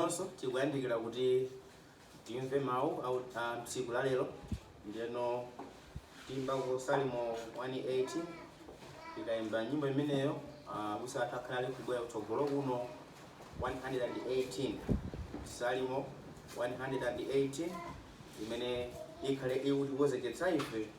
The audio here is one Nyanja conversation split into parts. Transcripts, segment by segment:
Nafenso tikuyandikira kuti timve mawu au- mu tsiku la lero ndiyeno tiimbako salimo 118 tikayimba nyimbo imeneyo ah, abusa athu akhale ali kubwera kutsogolo kuno 118 salimo 118 imene ikhale ikutikonzekeretsa ife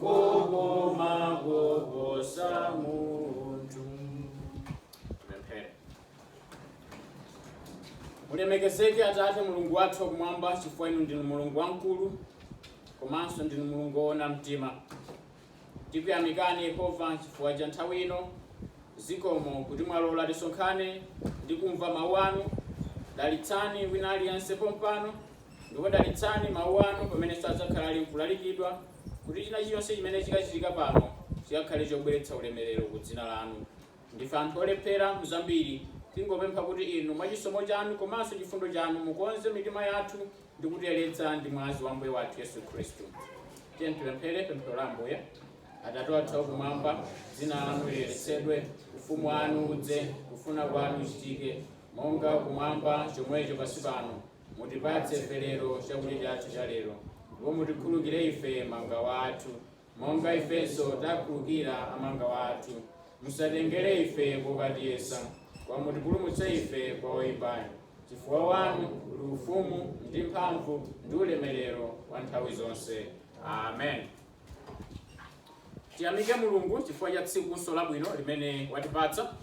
kokoma koposa munthu Pemphere. mulemekezeke atate mulungu wathu wakumwamba chifukwa inu ndinu mulungu wamkulu komanso ndinu mulungu woona mtima tikuyamikani yehova chifukwa cha nthawi ino zikomo kuti mwalola tisonkhane ndi kumva mawu anu dalitsani wina aliyense pompano ndipo dalitsani mawu anu pamene sadzakhala ali nkulalikidwa kuti china chilichonse chimene chikachitika pano chikakhale chobweretsa ulemelero ku dzina lanu. Ndife anthu olephera mu zambiri, tingopempha kuti inu mwa chisomo chanu komanso chifundo chanu mukonze mitima yathu ndi kutiyeretsa ndi mwazi wa Ambuye wathu Yesu Khristu. Tiyeni tipemphere pemphero la Ambuye. Atate wathu wakumwamba, dzina lanu liyeretsedwe, ufumu wanu udze, kufuna kwanu kuchitike, monga kumwamba chomwecho pansi pano. Mutipatse ife lero chakudya chathu cha lero, ndipo mutikhulukire ife mangawa athu, monga ifenso takhulukira amangawa athu. Musatengere ife kokatiyesa, koma mutipulumutse ife kwa woyipayo. Chifukwa wanu uli ufumu, ndi mphamvu, ndi ulemerero, wa nthawi zonse. Amen. Tiyamike Mulungu chifukwa cha tsikunso labwino limene watipatsa.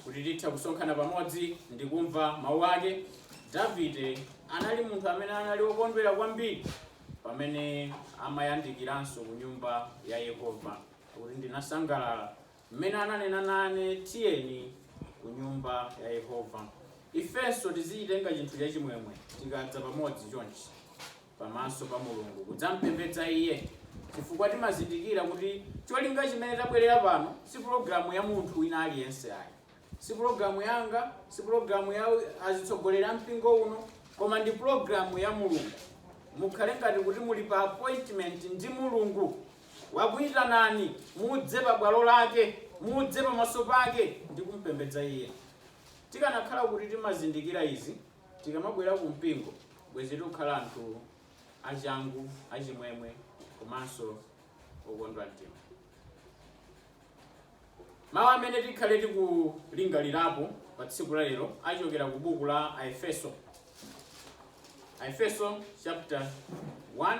Kuti tithe kusonkhana pamodzi ndi kumva mawu ake, Davide anali munthu amene anali wokondwera kwambiri pamene amayandikiranso ku nyumba ya Yehova. Akuti ndinasangalala mmene ananena nane, tiyeni ku nyumba ya Yehova. Ifenso tizichitenga chinthu chachimwemwe tikadza pamodzi chonchi. pamaso pa Mulungu kudzampembedza Iye chifukwa timazindikira kuti cholinga chimene tabwerera pano si pulogalamu ya munthu wina aliyense ayi. Si pulogalamu yanga, si pulogalamu ya azitsogoleri a mpingo uno, koma ndi pulogalamu ya Mulungu. Mukhale ngati kuti muli pa appointment ndi Mulungu. Wakuitanani mudze pa bwalo lake, mudze pamaso pake ndi kumpembedza Iye. Tikanakhala kuti timazindikira izi, Tikamabwera ku mpingo, bwezi tikukhala anthu achangu, achimwemwe komanso okondwa mtima. Mawu amene tikhale tikulingalirapo pa tsiku la lero achokera ku buku la Aefeso. Aefeso chapter 1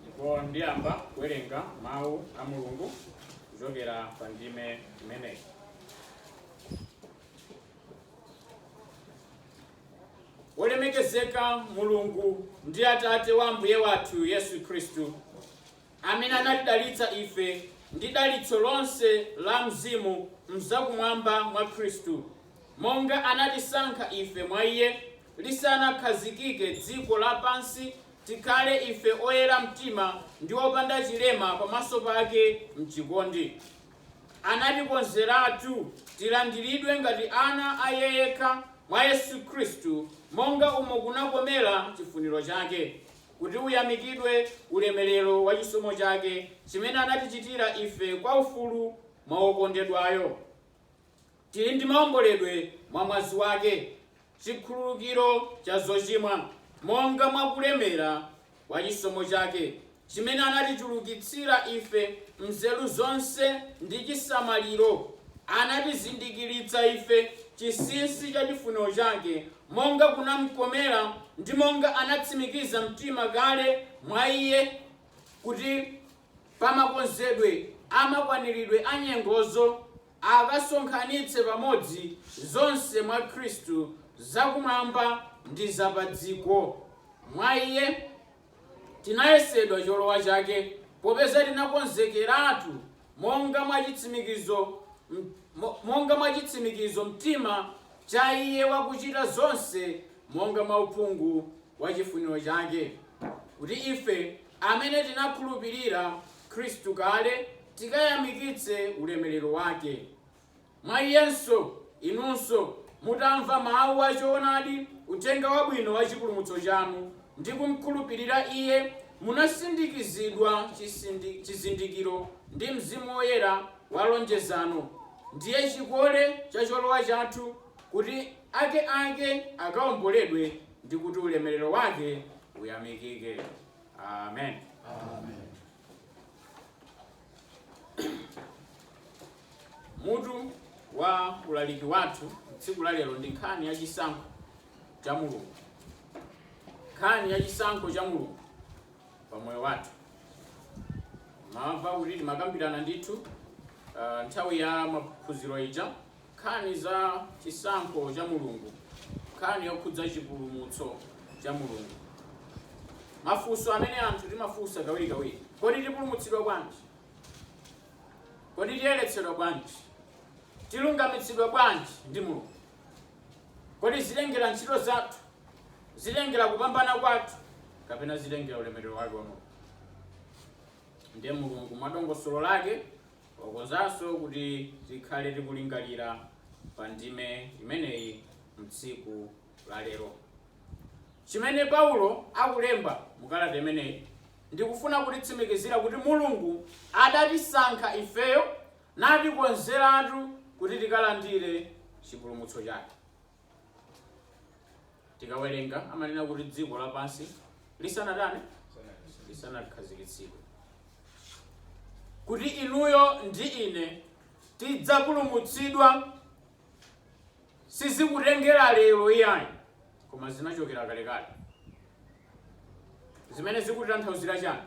ndipo ndiyamba kuwerenga mawu a mulungu kuchokera pa ndime imeneyi wolemekezeka mulungu ndi atate wa ambuye wathu yesu khristu amene anatidalitsa ife ndi dalitso lonse la mzimu m'zakumwamba mwa Khristu, monga anatisankha ife mwa iye lisanakhazikike dziko lapansi, tikhale ife oyera mtima ndi opanda chilema pamaso pake m'chikondi. Anatikonzeratu tilandiridwe ngati ana a Iye yekha, mwa Yesu Khristu, monga umo kunakomera chifuniro chake. kuti uyamikidwe ulemerero wa chisomo chake, chimene anatichitira ife kwa ufulu mwa Wokondedwayo. Tili ndi maomboledwe mwa mwazi wake, chikhululukiro cha zochimwa, monga mwa kulemera kwa chisomo chake, chimene anatichulukitsira ife m'nzeru zonse ndi chisamaliro, anatizindikiritsa ife chinsinsi cha chifuniro chake monga kunamkomera, ndi monga anatsimikiza mtima kale mwa iye, kuti pa makonzedwe a makwaniridwe a nyengozo akasonkhanitse pamodzi zonse mwa Khristu, za kumwamba, ndi za padziko, mwa iye. Tinayesedwa cholowa chake, popeza tinakonzekeratu monga mwa chitsimikizo mtima cha iye wakuchita zonse monga mwa uphungu wa chifuniro chake, kuti ife amene tinakhulupirira Khristu kale tikayamikitse ulemerero wake. Mwa Iyenso, inunso, mutamva mawu a choonadi, Uthenga Wabwino wa chipulumutso chanu, ndi kumkhulupirira iye, munasindikizidwa chizindikiro ndi Mzimu Woyera wa lonjezano, ndiye chikole cha cholowa chathu, kuti ake ake akaomboledwe, ndi kuti ulemerero wake uyamikike. Amen. Mutu wa ulaliki wathu tsiku la lero ndi nkhani ya chisankho cha Mulungu. Nkhani ya chisankho cha Mulungu pa moyo wathu. Mwamva kuti timakambirana ndithu ah, nthawi ya maphunziro ija Nkhani za chisankho cha Mulungu Nkhani yokhudza chipulumutso cha Mulungu Mafunso amene anthu timafunsa kawirikawiri Kodi tipulumutsidwa bwanji? Kodi tiyeretsedwa bwanji? Tilungamitsidwa bwanji ndi Mulungu? Kodi zitengera ntchito zathu? Zitengera kupambana kwathu? Kapena zitengera ulemerero wake wa Mulungu? Ndiye Mulungu mwa dongosolo lake Wakonzanso kuti tikhale tikulingalira pa ndime imeneyi mtsiku la lero. Chimene Paulo akulemba mu kalata imeneyi ndi kufuna kutitsimikizira kuti Mulungu adatisankha ifeyo natikonzeratu kuti tikalandire chipulumutso chake. tikawerenga amanena kuti dziko lapansi lisanatani lisanakhazikitsidwe kuti inuyo ndi ine tidzapulumutsidwa sizikutengera lero iyayi koma zinachokera kalekale zimene zikutanthauzira chani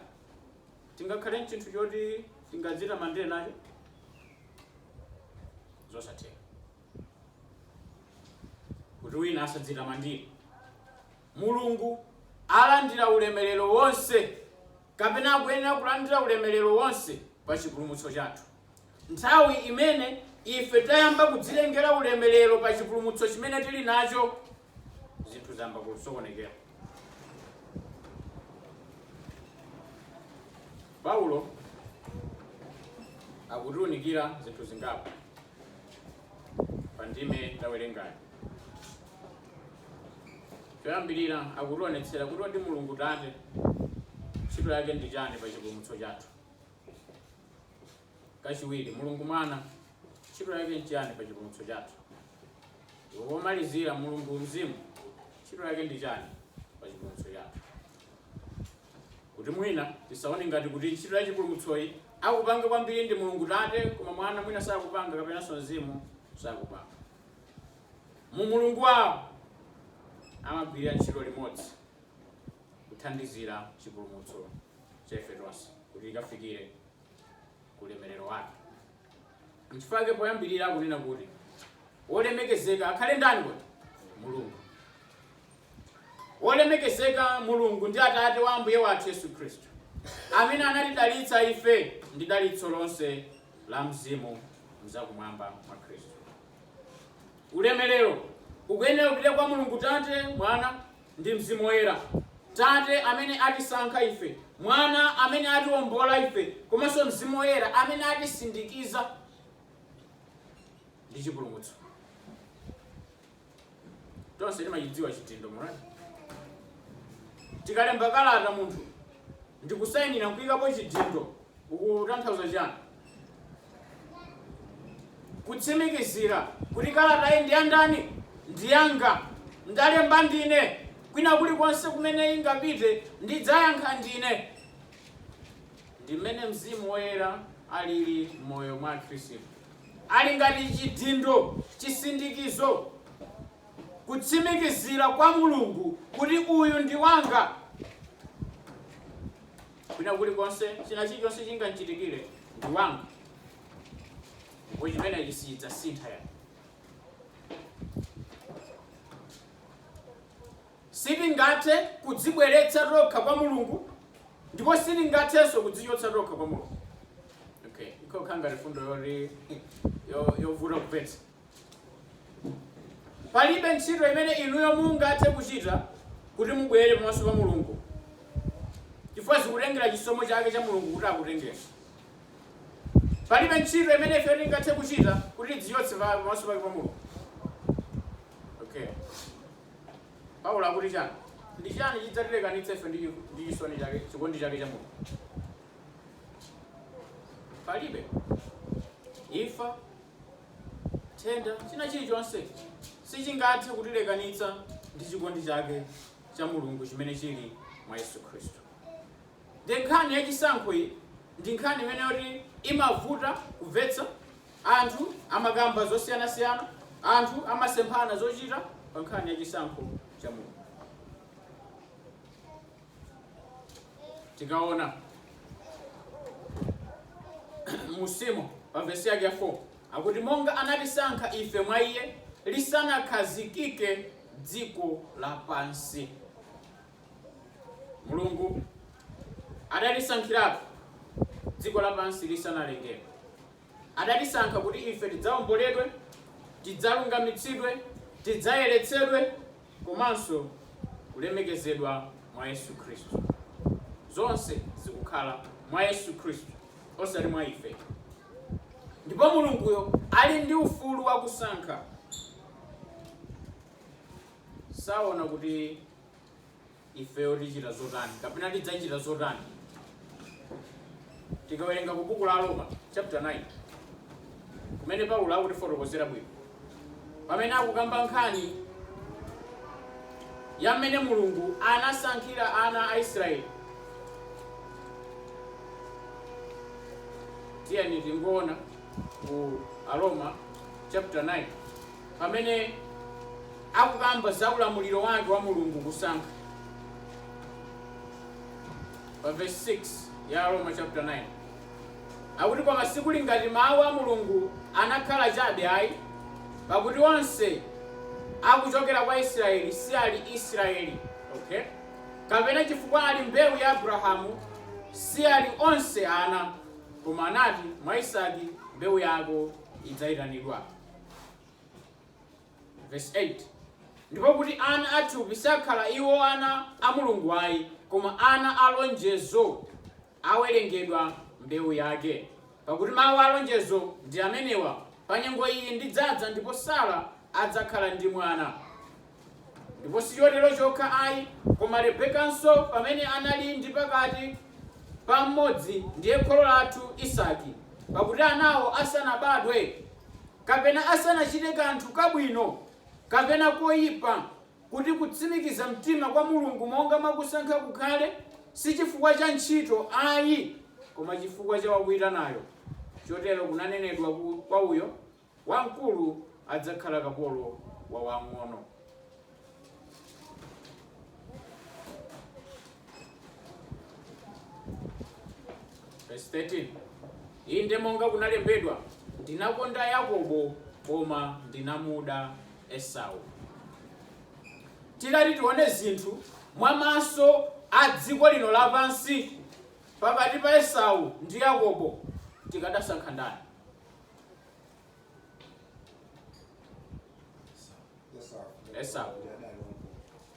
tingakhale ndi chinthu choti tingadzitamandire nacho zosatheka kuti wina asadzitamandire mulungu alandira ulemerero wonse kapena akuyenera kulandira ulemerero wonse pa chipulumutso chathu nthawi imene ife tayamba kudzilengera ulemerero pa chipulumutso chimene tili nacho zinthu zayamba kusokonekera paulo akutiunikira zinthu zingapo pa ndime tawerengayi choyambirira akutionetsera kuti kodi mulungu tate ntchito yake ndi chani pa chipulumutso chathu kachiwiri mulungu mwana Ntchito yake nchiyani pa chipulumutso chathu? Ndipo pomalizira, Mulungu Mzimu, ntchito yake ndi chani pa chipulumutso chathu? Kuti mwina tisaone ngati kuti ntchito ya chipulumutsoyi akupanga kwambiri ndi Mulungu Tate koma Mwana mwina sakupanga kapenanso Mzimu sakupanga. Mu umulungu wawo amagwirira ntchito limodzi kuthandizira chipulumutso cha ife tonse kuti tikafikire ku ulemerero wake. Nchifukwa chake poyambirira akunena kuti wolemekezeka akhale ndani kodi? Mulungu. Wolemekezeka Mulungu ndi Atate wa Ambuye wathu Yesu Khristu, amene anatidalitsa ife ndi dalitso lonse la mzimu mzakumwamba mwa Khristu. Ulemerero ukuyenera kupita kwa Mulungu Tate, Mwana ndi Mzimu Woyera, Tate amene atisankha ife, Mwana amene atiombola ife, komanso Mzimu Woyera amene atisindikiza ndi chipulumutso. Tonse timachidziwa chidindo mwina. Tikalemba kalata munthu ndikusainira nkuikapo chidindo, ukutanthauza chani? Kutsimikizira kuti kalatayi ndi yandani? Ndi yanga. Ndalemba ndine. Kwina kulikonse kumene ingapite, ndidzayankha ndine. Ndi mmene Mzimu Woyera alili m'moyo mwa Akhristu. Ali ngati chidindo, chisindikizo, kutsimikizira kwa Mulungu kuti uyu ndi wanga. Kwina kulikonse, china chilichonse chingamchitikire ndi wanga, ndipo chimenechi sichidzasintha ya. Sitingathe kudzibweretsa tokha kwa Mulungu, ndipo sitingathenso kudzichotsa tokha kwa Mulungu. Okay, ikokha ngati fundo yoti yo- yovuta kumvetsa. Palibe ntchito imene inuyo mungathe kuchita kuti mubwere pamaso pa Mulungu chifukwa zikutengera chisomo chake cha Mulungu kuti akutengeni. Palibe ntchito imene ifeyo tingathe kuchita kuti tidzichotse pa- pamaso pake pa Mulungu. Okay. Paulo akuti chani? Ndi chani chidzatilekanitsa ife ndi chiku- ndi chisoni chake, chikondi chake cha Mulungu? Palibe. Imfa, nthenda, china chilichonse sichingathe kutilekanitsa ndi chikondi chake cha Mulungu chimene chili mwa Yesu Khristu. Ndi nkhani ya chisankho iyi, ndi nkhani imene yoti imavuta kumvetsa, anthu amakamba zosiyanasiyana, anthu amasemphana zochita pa nkhani ya chisankho cha Mulungu. tikaona mmusimo pa vesi yake ya 4 akuti monga anatisankha ife mwa iye lisanakhazikike dziko lapansi mulungu adatisankhiratu dziko lapansi lisanalengedwe Adatisankha kuti ife tidzaomboledwe, tidzalungamitsidwe, tidzayeretsedwe komanso kulemekezedwa mwa Yesu Khristu. Zonse zikukhala mwa Yesu Khristu osati mwa ife. Ndipo Mulunguyo ali ndi ufulu wa kusankha. Saona kuti. ifeyo tichita zotani kapena tidzachita zotani tikawerenga ku buku la aroma chapter 9 kumene paulo akutifotokozera bwino pamene akukamba nkhani ya mmene mulungu anasankhira ana a israeli tiyeni tingoona ku aroma chapter 9 pamene akukamba za ulamuliro wake wa Mulungu kusankha pa verse 6 ya Aroma chapter 9 akuti koma sikuli ngati mawu a Mulungu anakhala chabe ayi pakuti onse akuchokera kwa Israeli si ali Israeli okay kapena chifukwa ali mbewu ya Abrahamu si ali onse ana koma anati mwa Isaki mbewu yako idzayitanidwa Verse 8. ndipo kuti ana athupi sakhala iwo ana a mulungu ayi koma ana a lonjezo awerengedwa mbewu yake pakuti mawu a lonjezo ndi amenewa pa nyengo iyi ndidzadza ndipo sara adzakhala ndi mwana Ndipo si chotero chokha ayi, koma Rebekanso, pamene anali ndi pakati pa mmodzi, ndiye kholo lathu Isaki, pakuti anawo asanabadwe, kapena asanachite kanthu kabwino kapena koipa, kuti kutsimikiza mtima kwa Mulungu monga mwa kusankha kukhale, si chifukwa cha ntchito ayi, koma chifukwa cha wakuitanayo, chotero kunanenedwa kwa uyo, Wamkulu adzakhala kapolo wa wamng'ono. Verse 13. Inde monga kunalembedwa, ndinakonda Yakobo koma ndinamuda Esau. Tikati tione zinthu mwa maso a dziko lino lapansi pakati pa Esau ndi Yakobo tikadasankha ndani? esau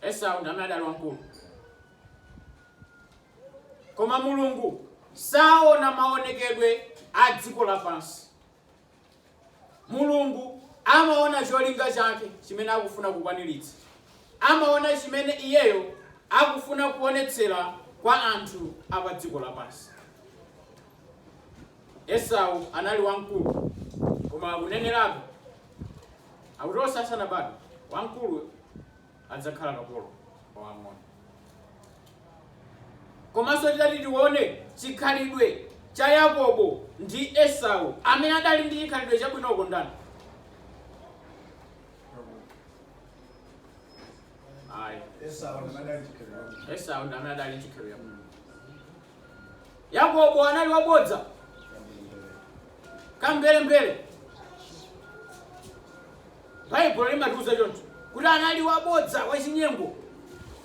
esau ndi amene adali wamkulu koma mulungu saona maonekedwe a dziko lapansi mulungu amaona cholinga chake chimene akufuna kukwaniritsa amaona chimene iyeyo akufuna kuonetsera kwa anthu a pa dziko lapansi Esau anali wamkulu, koma akunenerabe, akuti onse asanabadwe, wamkulu adzakhala kapolo wa wamng'ono. Komanso titati tione chikhalidwe cha Yakobo ndi Esau, amene adali ndi chikhalidwe chabwinoko ndani? Ayi, Esau anali ndi chikhalidwe. Esau ndi amene adali ndi chikhalidwe chabwino. Yakobo anali wabodza, kamberembere. Baibulo limatiuza choncho kuti anali wabodza, wachinyengo,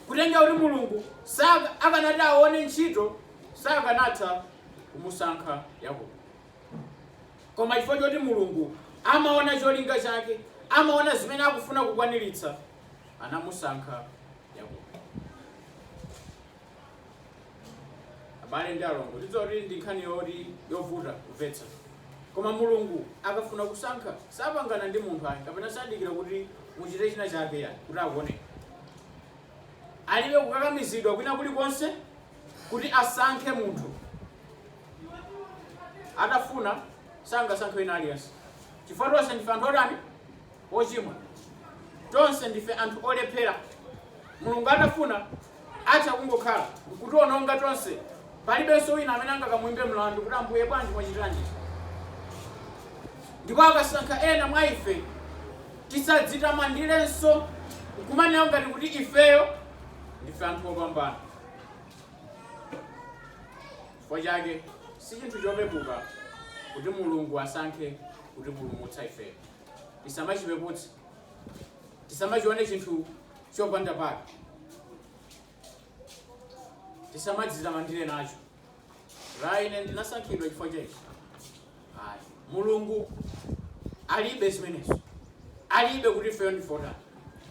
kunena kuti Mulungu saka- akanati aone ntchito sakanatha kumusankha Yakobo. Koma chifukwa choti Mulungu amaona cholinga chake, amaona zimene akufuna kukwaniritsa, anamusankha Yakobo. abale ndi alongo tidziwe kuti ndi nkhani yoti yovuta kumvetsa koma mulungu akafuna kusankha sapangana ndi munthu ayi kapena sadikira kuti muchite china chake ya kuti akuone alibe kukakamizidwa kwina kulikonse kuti asankhe munthu atafuna sangasankhe wina aliyense chifukwa tonse ndife anthu otani ochimwa. Tonse ndife anthu olephera. Mulungu atafuna, atha kungokhala nkutiononga tonse. Palibenso wina amene angakamuimbe mlandu kuti, Ambuye, bwanji mwachitiranji izi? Ndipo akasankha ena mwa ife, tisadzitamandirenso nkumanena ngati kuti ifeyo ndife anthu opambana. Chifukwa chake, si chinthu chopepuka kuti Mulungu asankhe kutipulumutsa ifeyo. tisamachipeputse, tisamachione chinthu chopanda pake, tisamadzitamandire nacho. Ra ine ndinasankhidwa chifukwa cha ichi. Ayi, Mulungu alibe zimenezi, alibe kuti ifeyo ndife otani,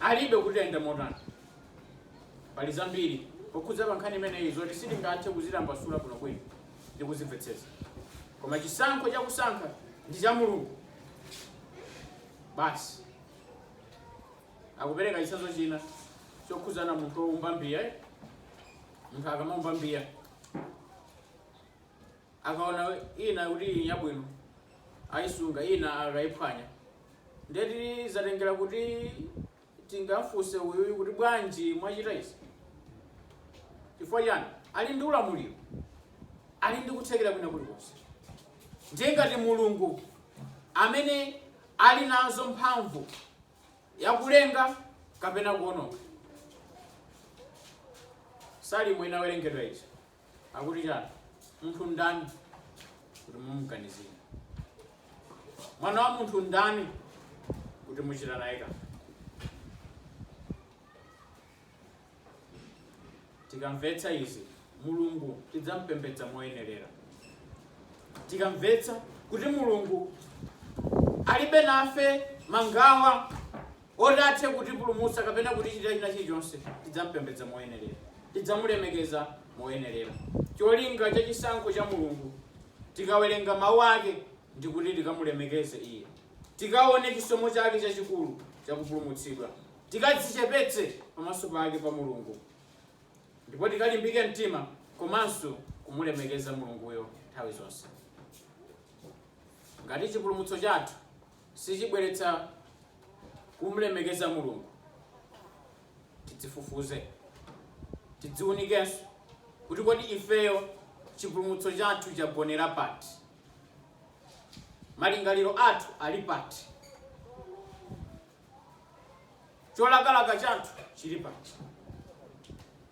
alibe kuti ayenda motani. Pali zambiri pokhudza pa nkhani imeneyi zoti sitingathe kuzitambasula bwinobwino, ndi kuzimvetsetsa koma chisankho cha kusankha ndi cha mulungu basi akupereka chitsanzo china chokhudzana munthu woumba mbiya eh? munthu akamaumba mbiya akaona ina kuti ili yabwino ayisunga ina akayiphwanya ndiye zatengera kuti tingamfunse uyuyu kuti bwanji mwachita izi? Chifukwa chiyani? Ali ndi ulamuliro, ali ndi kuthekera kwina kulikonse. Ndiye ngati Mulungu amene ali nazo mphamvu yakulenga kapena kuononga, Salimo inawerengedwa ija akuti chani munthu ndani kuti mumuganizire mwana wa munthu ndani kuti muchita naye kanthu tikamvetsa izi mulungu tidzampembedza moyenerera tikamvetsa kuti mulungu alibe nafe mangawa oti athe kutipulumutsa kapena kutichitira china chilichonse, tidzampembedza moyenerera, tidzamulemekeza moyenerera. Cholinga cha chisankho cha Mulungu tikawerenga mau ake ndi kuti tikamulemekeze iye, tikaone chisomo chake chachikulu chakupulumutsidwa, tikadzichepetse pamaso pake pa Mulungu ndipo tikalimbike mtima komanso kumulemekeza Mulunguyo nthawi zonse. Ngati chipulumutso chathu sichibweretsa kumlemekeza Mulungu, tidzifufuze, tidziunikenso kuti kodi ifeyo chipulumutso chathu chagonera pati? Malingaliro athu ali pati? Cholakalaka chathu chili pati?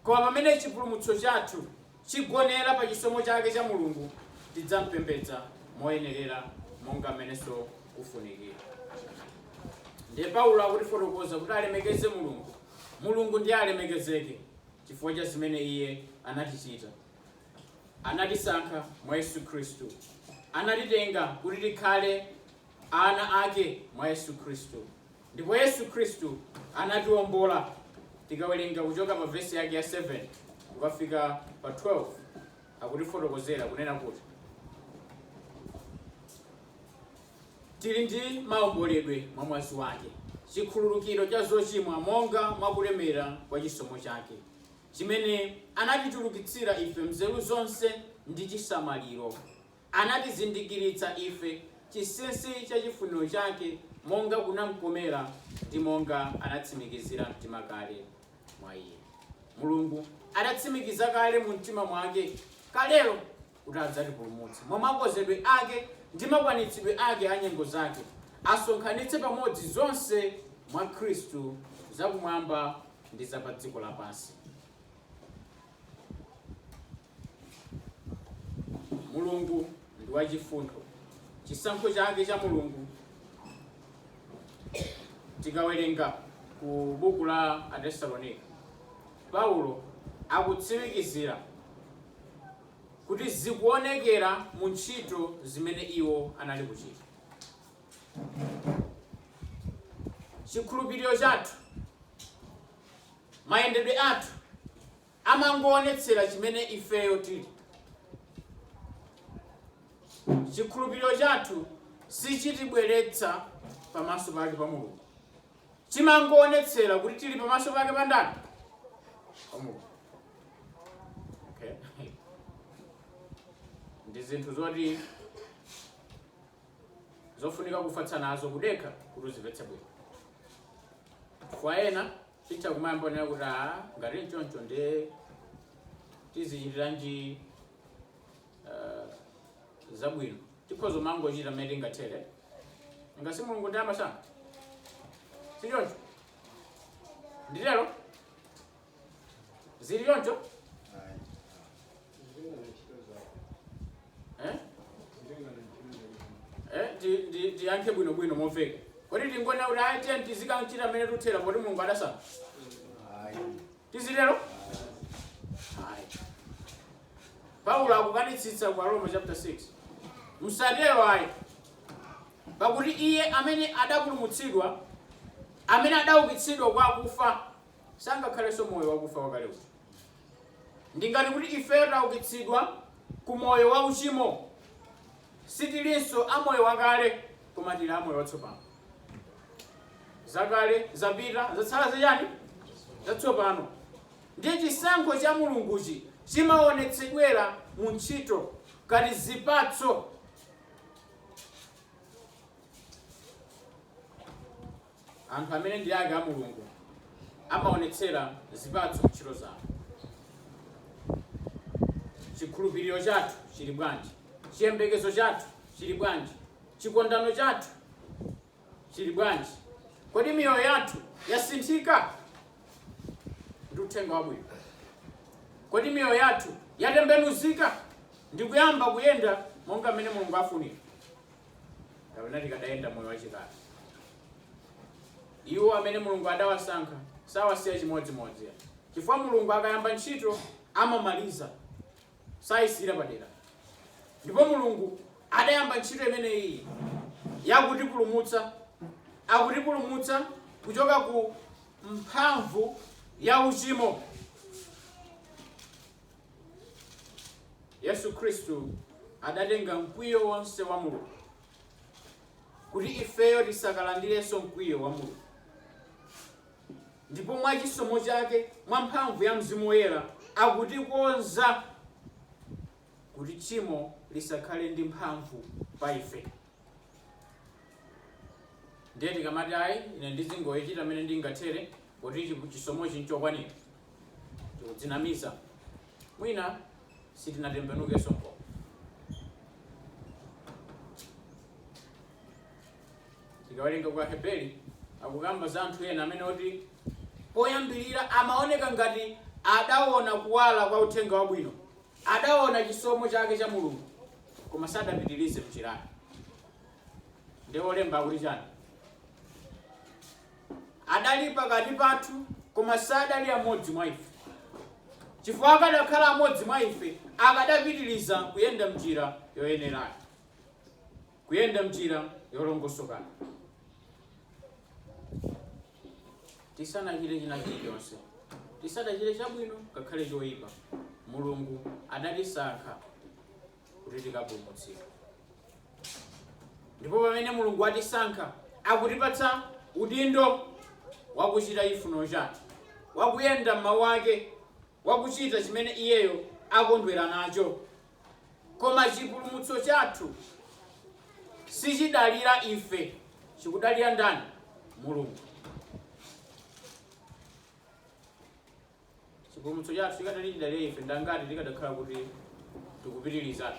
Koma pamene chipulumutso chathu chigonera pa chisomo chake cha Mulungu, tidzampembedza moyenerera monga mmenenso kufunikira. Ndiye Paulo akutifotokoza kuti alemekeze Mulungu, Mulungu ndiye alemekezeke chifukwa cha zimene Iye anatichita. Anatisankha mwa Yesu Khristu. Anatitenga kuti tikhale ana ake mwa Yesu Khristu. Ndipo Yesu Khristu anatiwombola, tikawerenga kuchoka pa vesi yake ya 7 kukafika pa 12, akutifotokozera kunena kuti tili ndi maomboledwe mwa mwazi wake, chikhululukiro cha zochimwa monga mwa kulemera kwa chisomo chake, chimene anatichulukitsira ife mzeru zonse ndi chisamaliro. Anatizindikiritsa ife chinsinsi cha chifuniro chake, monga kunamkomera, ndi monga anatsimikizira mtima kale mwa iye. Mulungu adatsimikiza kale mu mtima mwake kalelo kuti adzatipulumutse, mwa makozedwe ake ndi makwanitsidwe ake a nyengo zake, asonkhanitse pamodzi zonse mwa Khristu, za kumwamba ndi za padziko lapansi. Mulungu ndi wachifundo. Chisankho chake cha Mulungu tikawerenga ku buku la Atesalonika, Paulo akutsimikizira kuti zikuonekera mu ntchito zimene iwo anali kuchita. Chikhulupiriro chathu, mayendedwe athu amangowonetsera chimene ifeyo tili. Chikhulupiriro chathu sichitibweretsa pamaso pake pa Mulungu. Chimangowonetsera kuti tili pamaso pake pa ndani? Pa Mulungu. Okay. Ndi zinthu zoti zofunika kufatsa nazo kudekha kuti uzimvetse bwino. Kwa ena Titha kumangonena kuti aa ngati nchoncho ndiye tizichitiranji uh, zabwino tikhoza kumangochita mmene tingathere, nanga si mulungu ndi amasankha si choncho nditero zili choncho Eh? Eh, ti- ti- tiyankhe bwinobwino momveka kodi tingonena kuti ayi tiyeni tizikanchita mmene tingathere poti mulungu adasankha tizitero Ayi. paulo akukanitsitsa ku aroma chapter 6 msatero ayi pakuti iye amene adapulumutsidwa amene adaukitsidwa kwa akufa sangakhalenso moyo wakufa wakale uja Ndi ngati kuti ifeyo taukitsidwa ku moyo wa uchimo. Sitilinso a moyo wakale, koma tili a moyo watsopano. Zakale zapita, zatsala za chani? Zatsopano. Ndiye chisankho cha Mulunguchi chimaonetsedwera mu ntchito ngati zipatso. Anthu amene ndi ake a Mulungu amaonetsera zipatso mntchito zawo. Chikhulupiriro chathu chili bwanji? Chiyembekezo chathu chili bwanji? Chikondano chathu chili bwanji? Kodi miyoyo yathu yasinthika ndi uthenga wabwino? Kodi miyoyo yathu yatembenuzika ndikuyamba kuyenda monga mmene Mulungu afunira? kapena tikadayenda moyo wachikale. Iwo amene Mulungu adawasankha sawasiya chimodzimodzi, chifukwa Mulungu akayamba ntchito amamaliza, sayisiyira padera. Ndipo Mulungu adayamba ntchito imeneyi yakutipulumutsa, akutipulumutsa kuchoka ku mphamvu ya uchimo. Yesu Khristu adatenga mkwiyo wonse wa Mulungu kuti ifeyo tisakalandirenso mkwiyo wa Mulungu. Ndipo mwa chisomo chake, mwa mphamvu ya Mzimu Woyera, akutikonza kuti tchimo lisakhale ndi mphamvu pa ife. ndiye tikamati ayi ine ndizingoyechita mmene ndingathere kuti chi- chisomochi nchokwanira tikudzinamiza mwina sitinatembenukenso ndipo tikawerenga kwa heberi akukamba za anthu ena amene oti poyambirira amaoneka ngati adaona kuwala kwa uthenga wabwino Adaona chisomo chake cha Mulungu koma sadapitilize mnjirayo nde olemba akuti chani? Adali pakati pathu koma sadali amodzi mwa ife chifukwa akadakhala amodzi mwa ife akadapitiliza kuyenda mnjira yoyenerayo kuyenda mnjira yolongosokayo. tisanachite china chilichonse tisanachite chabwino ngakhale choyipa mulungu adatisankha kuti tikapulumutsidwe ndipo pamene mulungu watisankha akutipatsa udindo wakuchita chifuniro chake wakuyenda m'mawu ake wakuchita chimene iyeyo akondwera nacho Koma chipulumutso chathu sichidalira ife, chikudalira ndani? Mulungu. Chipulumutso chathu chikadakhala chidalira ife, ndangati tikadakhala kuti tikupitiriza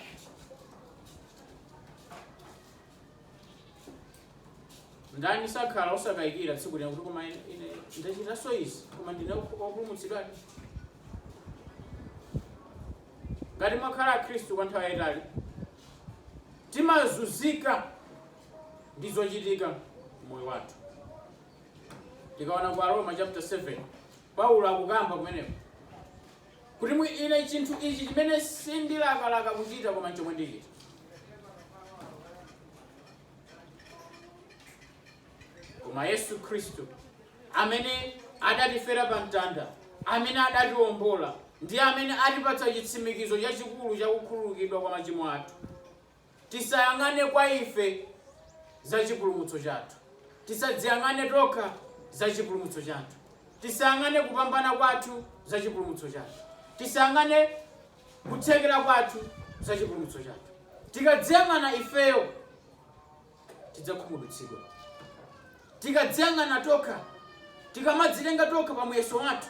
ndani akadakhala osakayikira tsiku lina kuti koma ine ine ndachitanso izi koma ndine wopulumutsidwadi Ngati mwakhala Akhristu kwa nthawi yaitali, timazunzika ndi zochitika m'moyo wathu. Tikaona ku Aroma chapter 7, Paulo akukamba kumeneko kuti mwi ine chinthu ichi chimene sindilakalaka kuchita koma chomwe ndichita. Koma Yesu Khristu, amene adatifera pa mtanda, amene adatiwombola, ndi amene atipatsa chitsimikizo chachikulu cha kukhululukidwa kwa machimo athu. Tisayang'ane kwa ife za chipulumutso chathu. Tisadziyang'ane tokha za chipulumutso chathu. Tisayang'ane kupambana kwathu za chipulumutso chathu. Tisayang'ane kuthekera kwathu za chipulumutso chathu. Tikadziyang'ana ifeyo, tidzakhumudwitsidwa. Tikadziyang'ana tokha, tikamadzitenga tokha pa muyeso wathu,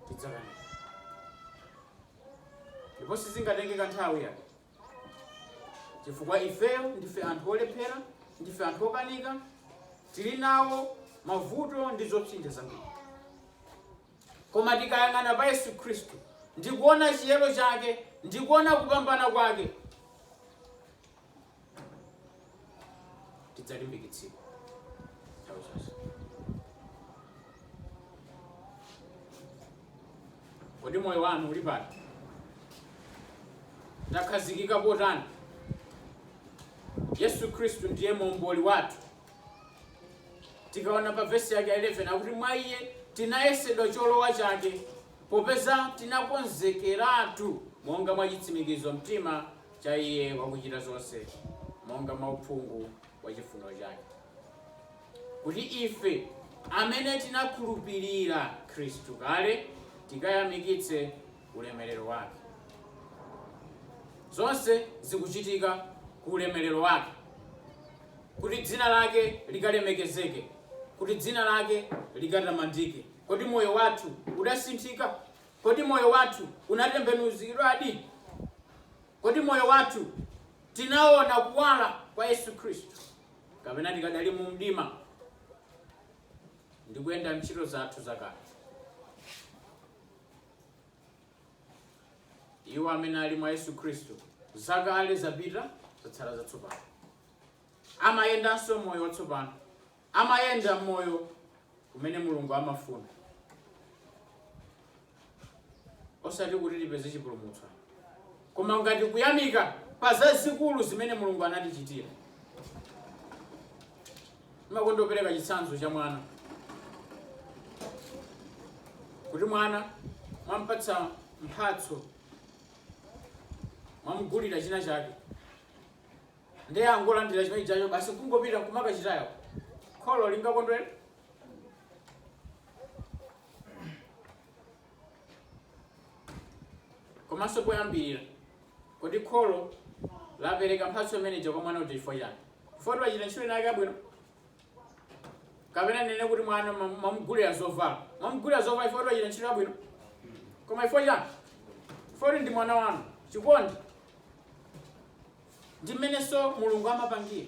tidzakanika. Ndipo sizingatenge kanthawi yake, chifukwa ifeyo ndife anthu olephera, ndife anthu okanika, tili nawo mavuto ndi zopsinja zambiri. Koma tikayang'ana pa Yesu Khristu ndi kuona chiyero chake ndi kuona kupambana kwake, tidzalimbikitsidwa nthawi zonse kodi moyo wanu uli pati takhazikika kotani yesu khristu ndiye momboli wathu tikaona pa vesi yake 11 akuti mwa iye tinayesedwa cholowa chake popeza tinakonzekeratu monga mwa chitsimikizo mtima cha Iye wakuchita zonse monga mwa uphungu wa chifuniro chake, kuti ife amene tinakhulupirira Khristu kale tikayamikitse ulemerero wake. Zonse zikuchitika ku ulemerero wake, kuti dzina lake likalemekezeke, kuti dzina lake likatamandike. Kodi moyo wathu udasinthika? Kodi moyo wathu unatembenuzidwadi? Kodi moyo wathu tinaona kuwala kwa Yesu Khristu, kapena tikadali mu mdima ndi kuyenda m'ntchito zathu zakale? Iwo amene ali mwa Yesu Khristu, zakale zapita, zatsala zatsopano. Amayendanso moyo watsopano, amayenda mmoyo umene Mulungu amafuna, osati kuti tipeze chipulumutso ayi, koma ngati kuyamika pa zazikulu zimene Mulungu anatichitira. Ndimakonda kupereka chitsanzo cha mwana kuti mwana mwampatsa mphatso mwamugulira china chake Ndiye angolandira chimene chijacho basi kungopita nkumakachitaya. Kholo lingakondwere? Komanso poyambirira, kodi kholo lapereka mphatso imene ija kwa mwana uja chifukwa chani? Chifukwa kuti wachita ntchito inayake yabwino? Kapena ndinene kuti mwana mwa- mwamugulira zovala. Mwamugulira zovala chifukwa kuti wachita ntchito yabwino? Koma chifukwa chani? Chifukwa kuti ndi mwana wanu. Chikondi. Ndi mmenenso Mulungu amapangira.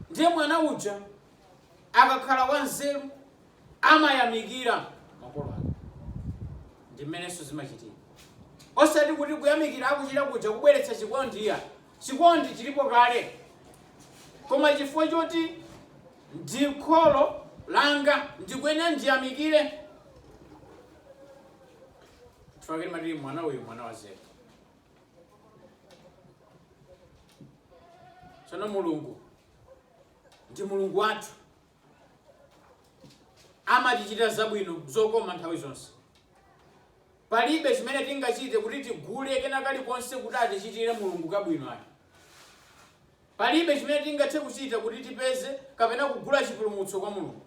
Ndiye mwana uja akakhala wanzeru amayamikira makolo ake. Ndi mmenenso zimachitika. Osati kuti kuyamikira akuchita kuja kubweretsa chikondi iyayi. Chikondi chilipo kale. Koma chifukwa choti ndi kholo langa ndikuyenera ndiyamikire. Chifukwa chake timati mwana uyu mwana wanzeru. tsono mulungu ndi mulungu wathu amatichitira zabwino zokoma nthawi zonse palibe chimene tingachite kuti tigule kena kalikonse kuti atichitire mulungu kabwino ayi Palibe chimene tingathe kuchita kuti tipeze kapena kugula chipulumutso kwa Mulungu,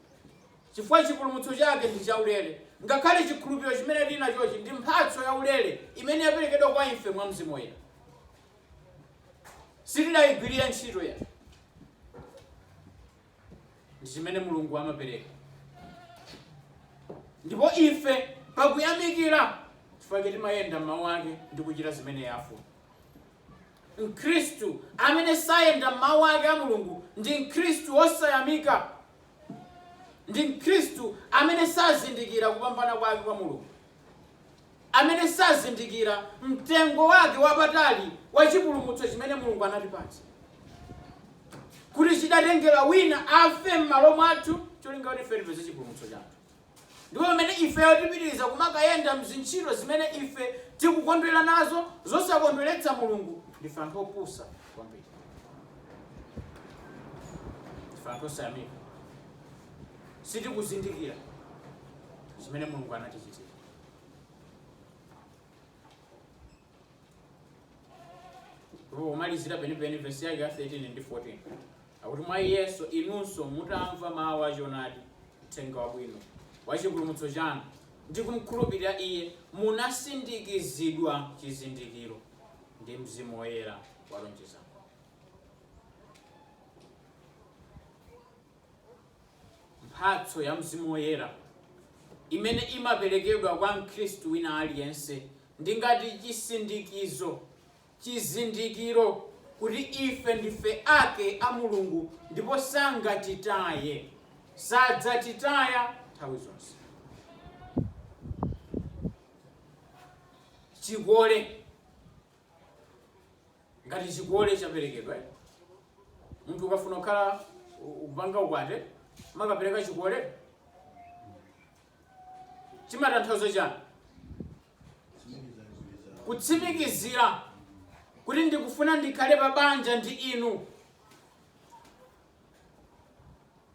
chifukwa chipulumutso chake ndi chaulere. Ngakhale chikhulupiliro chimene tili nachochi ndi mphatso yaulere imene yaperekedwa kwa ife mwa Mzimu Woyera. Sitidaigwilire ntchito yayi. ndi zimene mulungu amapereka ndipo ife pakuyamikira chifukwa choti timayenda m'mawu ake ndi kuchita zimene iye afuna mkhristu amene sayenda m'mawu ake a mulungu ndi mkhristu osayamika ndi mkhristu amene sazindikira kupambana kwake kwa mulungu amene sazindikira mtengo wake wapatali wa chipulumutso chimene Mulungu anatipatsa, kuti chidatengera wina afe m'malo mwathu cholinga kuti ife tipeze chipulumutso chathu, ndipo pamene ifeyo tipitiriza kumakayenda m'zintchito zimene ife tikukondwera nazo zosakondweretsa Mulungu, ndife anthu opusa kwambiri. Ndife anthu osayamika. Sitikuzindikira zimene Mulungu anatichitira. pomalizira penipeni vesi yake ya 13 ndi 14 akuti mwa iyenso inunso mutamva mawu a choonadi uthenga wabwino wa chipulumutso chanu ndi kumkhulupirira iye munasindikizidwa chizindikiro ndi mzimu woyera walonjezano Mphatso ya Mzimu Woyera imene imaperekedwa kwa Mkhristu wina aliyense ndi ngati chisindikizo, chizindikiro kuti ife ndife ake a Mulungu ndipo sangatitaye, sadzatitaya nthawi zonse. Chikole. Ngati chikole chaperekedwa, munthu ukafuna kukhala kupanga ukwati mumakapereka chikole, chimatanthauza chani? Kutsimikizira kuti ndikufuna ndikhale pa banja ndi inu.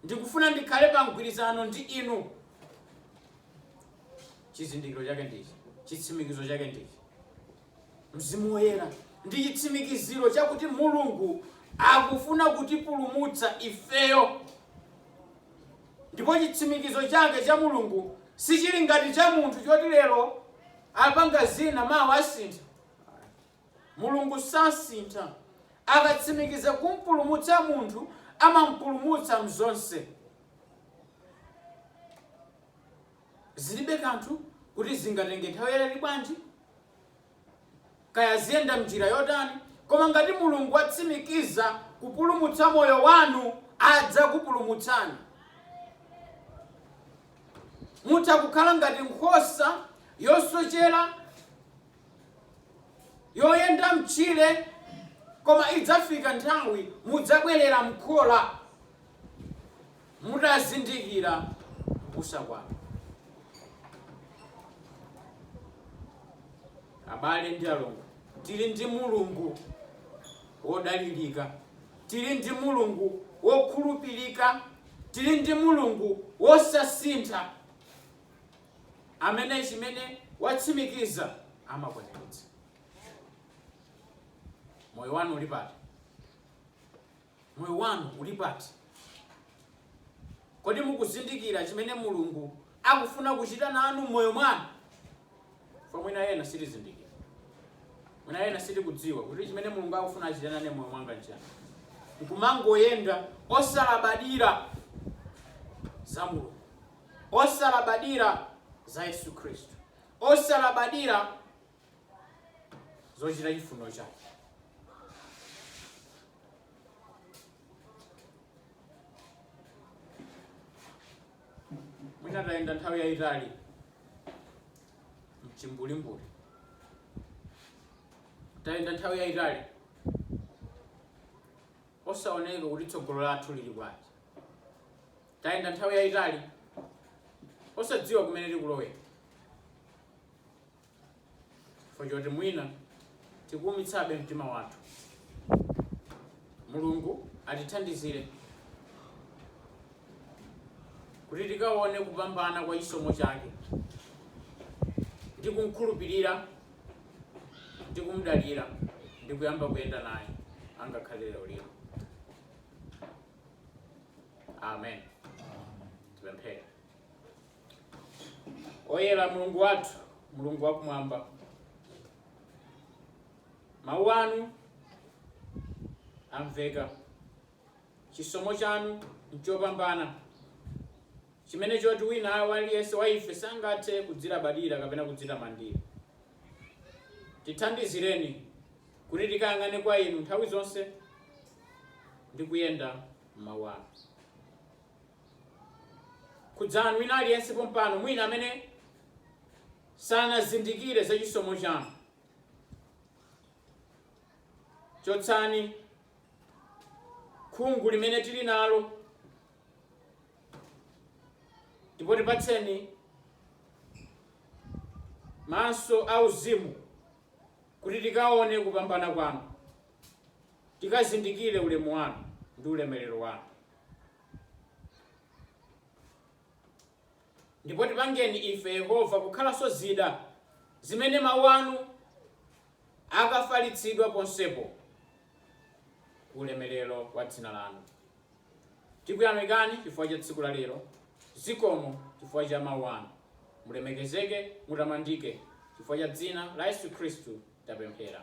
Ndikufuna ndikhale pa mgwirizano ndi Inu. Chizindikiro chake ndi ichi, chitsimikizo chake ndi ichi. Mzimu Woyera ndi chitsimikiziro chakuti Mulungu akufuna kutipulumutsa ifeyo, ndipo chitsimikizo chake cha Mulungu sichili ngati cha munthu choti lero apanga zina mawa asintha. Mulungu sasintha. Akatsimikiza kumpulumutsa munthu, amampulumutsa m'zonse. Zilibe kanthu kuti zingatenge nthawi yaitali bwanji, kaya ziyenda m'njira yotani, koma ngati Mulungu watsimikiza kupulumutsa moyo wanu, adzakupulumutsani. Mutha kukhala ngati nkhosa yosochera. yoyenda mtchire koma idzafika nthawi mudzabwerera mkhola mutazindikira mbusa wanu abale ndi alongo tili ndi mulungu wodalirika tili ndi mulungu wokhulupirika tili ndi mulungu wosasintha amene chimene watsimikiza amakwaniritsa. Moyo wanu uli pati? Moyo wanu uli pati? Kodi mukuzindikira chimene Mulungu akufuna kuchita nanu mmoyo mwanu? Chifukwa mwina ena sitizindikira, mwina ena sitikudziwa kuti chimene Mulungu akufuna achite nane mmoyo mwanga nchiyani, nkumangoyenda osalabadira za Mulungu. osalabadira za Yesu Khristu, osalabadira zochita chifuniro chake. Mwina tayenda nthawi yayitali mchimbulimbuli, tayenda nthawi yayitali osaoneka kuti tsogolo lathu lili pati. Tayenda nthawi yaitali osadziwa kumene tikulowera chifukwa choti mwina tikuumitsabe mtima wathu. Mulungu atithandizire kuti tikaone kupambana kwa chisomo chake ndi kumkhulupirira ndi kumdalira ndi kuyamba kuyenda naye angakhale lero lino. amen tipemphere oyera mulungu wathu mulungu wakumwamba mawu anu amveka chisomo chanu nchopambana chimene choti wina aliyense wa ife sangathe kudzilabadira kapena kudzitamandira tithandizireni kuti tikayang'ane kwa inu nthawi zonse ndi kuyenda m'mawu anu khudzani wina aliyense pompano mwina amene sanazindikire za chisomo chanu chotsani khungu limene tili nalo ndipo tipatseni maso auzimu Kuti tikaone kupambana kwanu, tikazindikire ulemu wanu ndi ulemerero wanu, ndipo tipangeni ife, Yehova, kukhalanso zida zimene mawu anu akafalitsidwa ponsepo, ku ulemerero wa dzina lanu. Tikuyamikani chifukwa cha tsiku la lero. Zikomo chifukwa cha Mawu Anu. Mulemekezeke, mutamandike. Chifukwa cha dzina la Yesu Khristu tapemphera.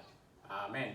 Amen.